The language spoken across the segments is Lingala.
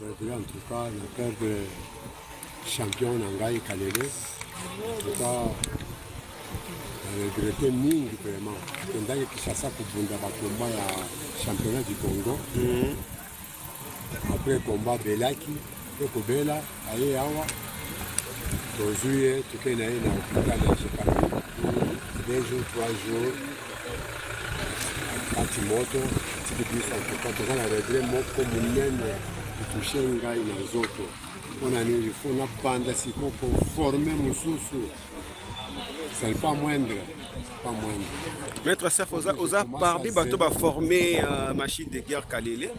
Regret en tout cas na perdre champion na ngai Kalele. En tout cas na regrette mingi vraiment. Akendaki Kinshasa kobunda ba combat ya championnat du Congo. Mhm. Après combat belaki pe kobela aye awa tozwi ye tokei na ye na hôpital ya Jekami. Mhm. Deux jours, trois jours kati moto atiki biso antuka toza na regre moko monene etushe ngai na nzoto mpo na nini fo nabanda siko koforme mosusu sali pas moindre pas moindre maître sef oza, oza parmi bato baforme uh, machine de guerre kalele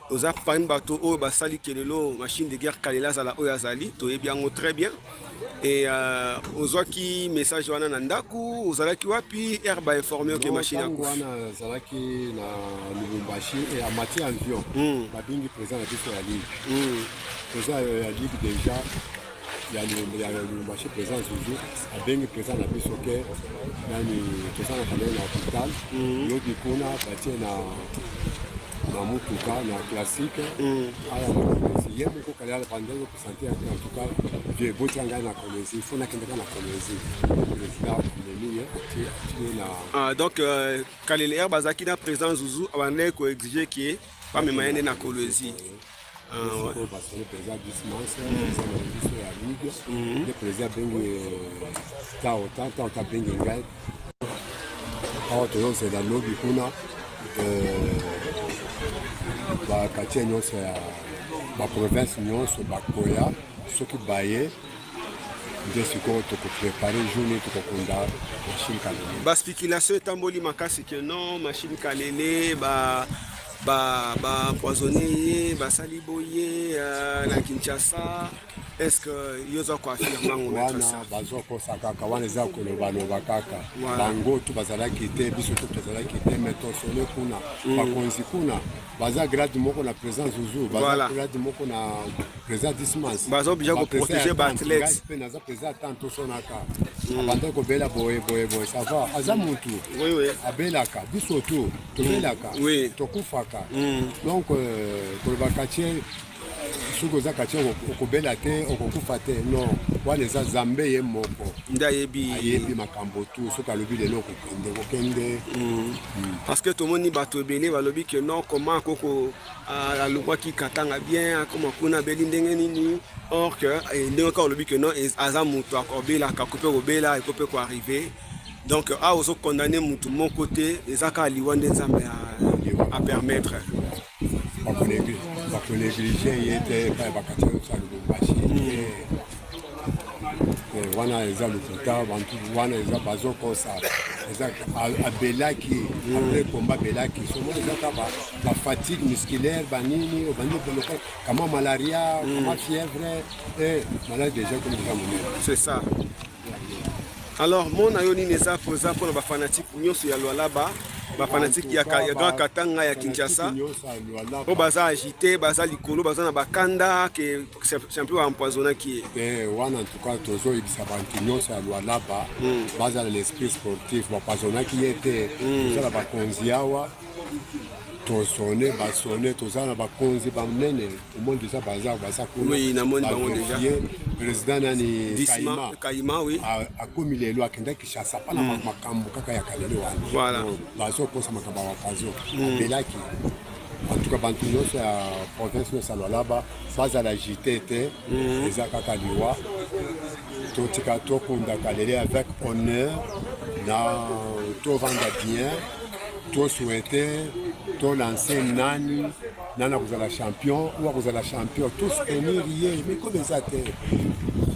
oza parmi bato oyo basali kelelo machine de guerre kalela azala oyo azali toyebi yango très bien e uh, ozwaki message wana na ndako ozalaki wapi air bainforme oke machine akufi wana azalaki na lubumbashi e amati avion hmm. babingi président na biso ya ligue hmm. toza ya ligue déjà ya Lubumbashi président Zuzu abengi président na biso ke nani toza na problème na hôpital mm. yoki kuna batie na na motuka na classique mm. aya ye moko kala ala banda yo presente yake en tout cas vie eboti yangai na kolezi fo nakendaka na kolezi président amemi ye atie atie na ah, donc euh, kalele heure bazalaki na président zuzu abandaki koexige ke bamema ye nde na kolezi awa toyosela lobi kuna bakatie nyonso ya baprovince nyonso bakoya soki baye nde sikoyo tokoprepare jour nini tokokunda machine kalele baspéculation etamboli makasi ke non machine kalele ba ba ba poisonne ye basali boye uh, na Kinshasa est-ce que yo oza koafirma ngo wana bazokosa kaka wana eza kolobaloba kaka bango tu bazalaki te biso tu tozalaki te mais tosole kuna mm. bakonzi kuna baza grade moko na président zuzu baza grade moko na président dismas baza obligé koprotege baathlète mpe naza président atan tosonaka mm. abandaki kobela boye boye boye sava aza mutu abelaka biso tu tobelaka oui. tokufaka mm. donc euh, koloba katie soki oza katie okobela te okokufa te non wana eza zambe ye moko nde ayebi ayebi makambo tu soki alobi lelo okokende kokende mm. mm. parce que tomoni bato ebele balobi ke non koma koko alobwaki katanga bien akoma kuna abeli ndenge nini or que eh, ndenge kaka olobi ke non aza moto akobelaka akope kobela ekope koarrive Donc awa ozo condamne mutu moko te, eza kaka liwa nde Nzambe a permettre bakoneglige ye te epai bakati nyonso ya lubumbashi wana eza lokuta bantu wana eza bazokosa abelaki apres komba abelaki somo eza ka bafatigue musculaire banini obandi oboloka kama malaria kama fièvre maladi deja komisa monene c'est ça Alors mona yo nini eza koza mpona bafanatike nyonso ya Lualaba bafanatike ya, ya Grand Katanga ya Kinshasa oyo baza agite baza likolo baza na bakanda ke champion baempoisonaki ye te eh, wana ntuka tozoyebisa bantu nyonso ya Lualaba hmm. baza na l'esprit sportif bapoisonaki ye te hmm. toza na bakonzi awa tosone basone toza na bakonzi banene omoni deja baza baza oui namoni bango deja président nani disma kayima oui akomi lelo akenda kinshasa mpana hmm. makambo kaka ya kalelo wana voilà bazokosa makambo ya bakazo hmm. abelaki en tout cas bantu nyonso ya province nyonso ya lwalaba bazala jite te hmm. eza kaka liwa totika tokunda kalele avec honneur na tovanda bien tosouhaite tolanse nani nani akozala champion ou akozala champion tous tenir ye mikomi eza te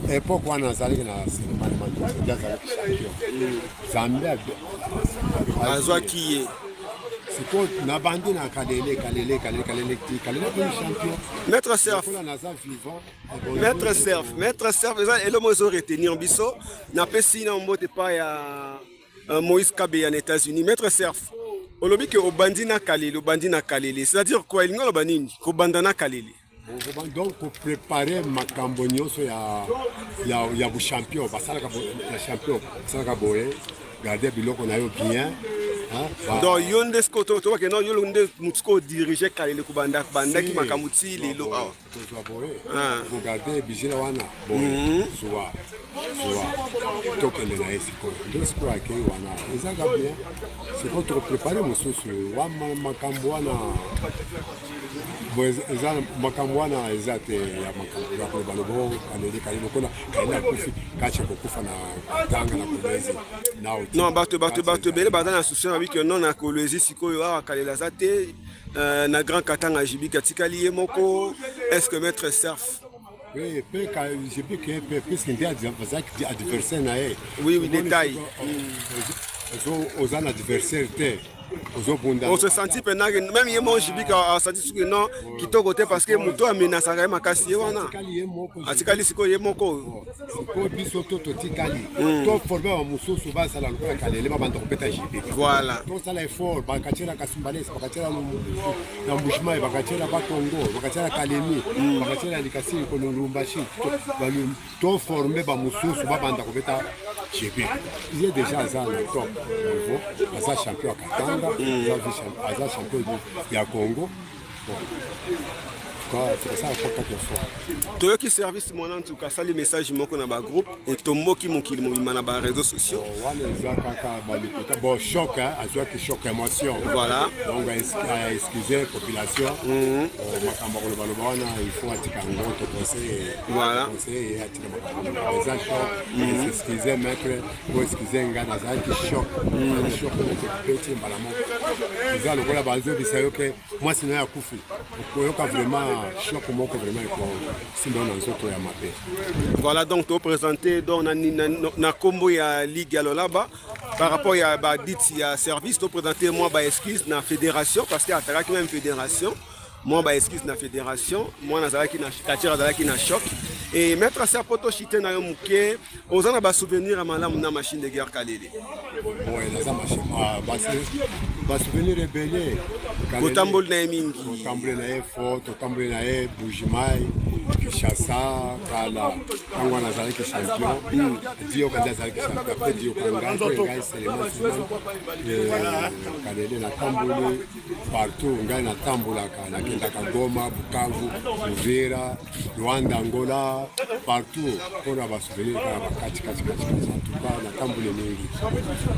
epoke wana azalaki na selemani mandoki azalaki champion zambe azwaki ye sikoyo nabandi na kalele kalele kalele kalele ti kalele komi champion maître serf naza vivant maître serf maître serf eza eloko ezo retenir biso napesi na mbote epai ya uh, Moïse Kabeya na États-Unis. Maître Serf, olobi ke obandi na kalele, obandi na kalele. C'est-à-dire quoi? Elingi oloba nini? Kobanda na kalele. donc koprepare makambo nyonso ya, ya, ya bochampion basalaka ya champion basalaka boye garde biloko na yo bien donc yo nde sikoyo tobakenda yo nde motu sikoyo dirige kalele kobanda bandaki makambo ti lelo awa kozwa boye ah. kogarde bizila wana boye mhm. zuwa zuwa tokende na ye sikoyo nde sikoyo akei wana ezaka bien sikoyo tokoprepare mosusu wa makambo wana eza makambo wana eza te ya makambo ya koloba lobo kaneli kali lokola kali akufi kati ekokufa na tanga na kolezi non bato bato bato ebele baza na souci babi ke non na kolezi sikoyo awa kalela aza te Euh, na grand katanga jibiki atikali ye moko est ce que maître surf Oui, puis quand j'ai vu que puis, puis c'est bien que adversaire na ye. Oui, oui, détail. Oza na adversaire te. On se sentit pendant que même ye mon jibika a ah, senti que non kitoko te parce que moto amenasaka ye makasi ye wana atikali sikoyo ye moko sikoyo biso to totikali hmm. to forme ba mosusu basala lokola kalele babanda kobeta jipe voilà tosala effort bakatiela kasimbalesi bakatiela na mbushimai bakatiela bakongo bakatiela kalemi hmm. bakatiela likasi likolo lumbashi to forme ba mosusu babanda kobeta jipe ye déjà aza na top niveau aza champion ya katanga hmm. aza champion ya congo toyoki service mwana ntuka asali message moko na bagroupe etomboki mokili mobimba na bareseau sociaux oh, wana eza kaka balipota bon choc azwaki choc émotion voilà donc aexcuse euh, population mhm. oh, makambo akolobaloba wana il faut atika yango toconseille voilà conseille atika makambo eza choc mhm. excuse maître po excuse nga nazalaki shok hmm. shok beti mbala moko eza lokola bazobisa yo ke mwasi nayo akufi okoyoka vraiment shok moko vraiment ekosimba na nzoto ya mabe voilà donc topresente donc na nkombo ya ligue ya lolaba par rapport ya badite ya service topresente mwa ba excuse na fédération parce que atalaki même fédération Moi ba excuse na federation, moi nazalaki na Katia azalaki na choc et maître à poto chite na yo muke, oza na ba souvenir à malamu na machine de guerre Kalele. Ouais, naza machine ah, ba ba souvenir ebele. Kotamboli na ye mingi. Kotamboli na ye fort, kotamboli na ye Bujimai. Kinshasa kala ntango wana azalaki champion hmm. dio kandi azalaki champion apres dio kanga ngai selema kalele natamboli partout ngai natambolaka nakendaka goma bukavu uvira rwanda angola partout mpona basouvenir kaka bakatikatikatikati antuka natamboli mingi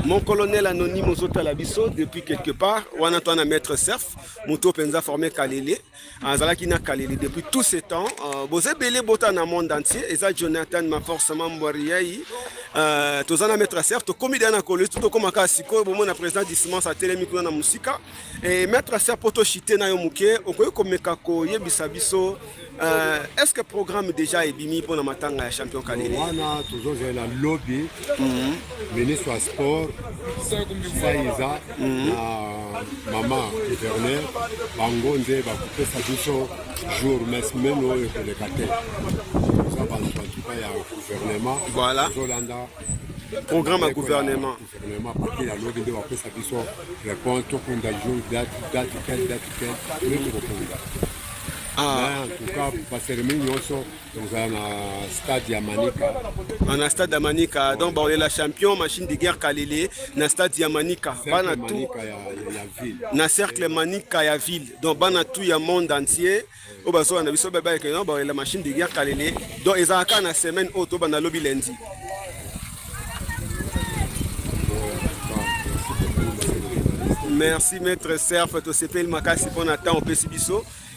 mon colonel anonyme ozotala biso depuis quelque part wana to na maître cerf moto mpenza forme kalele azalaki na kaleli depuis tout ce temps uh, boza ebele bota na monde entier eza jonathan maforce mambwariai uh, euh, toza na maître ser tokomi deya na kolesi tokoma kaka sikoyo bomona président disimence atelemi kuna na mosika e maître ser mpo toshite na yo moke okoki komeka koyebisa biso Uh, est ce que programme déjà ebimi mpo na matanga ya champion kaleli wana tozozela lobi mm -hmm. ministre ya sport sai eza mm. na mama gouverneur bango nde bakopesa biso jour mais meme oyo ekoleka te oza bato batuka ya gouvernement voilà ozolanda programme ya gouvernement gouvernement papier ya lobi nde bakopesa biso réponse tokunda jour date date tel date tel nde tokokunda ah. en tout cas baseremoni nyonso toza na stade ya manika ah, na stade ya manika donc baolela champion machine de guerre kalele na stade ya manika bana tu na cercle manika ya ville donc bana tu ya monde entier oyo bazoka na biso babaleke no baolela machine de guerre kalele donc ezalaka kaka na semaine oyo tobanda lobi lundi merci maître serf tosepeli makasi mpo na temps opesi biso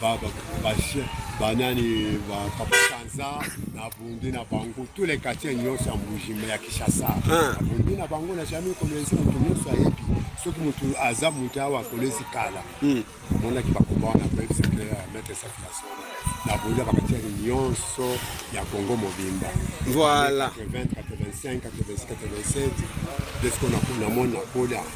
ba ba ba banani bakabasanza nabundi na bango tous les quartiers nyonso ya mbujima ya kinshasa ah. nabundi na bango na jamai kolezi moto nyonso ayebi soki moto aza moto awa akolezi kala hmm. omonaki bakomba wana koyebisaki maitre circulation nabundi bakatiaki nyonso ya kongo mobimba voilà 80 85 86 87 de ce qu'on a namona kolia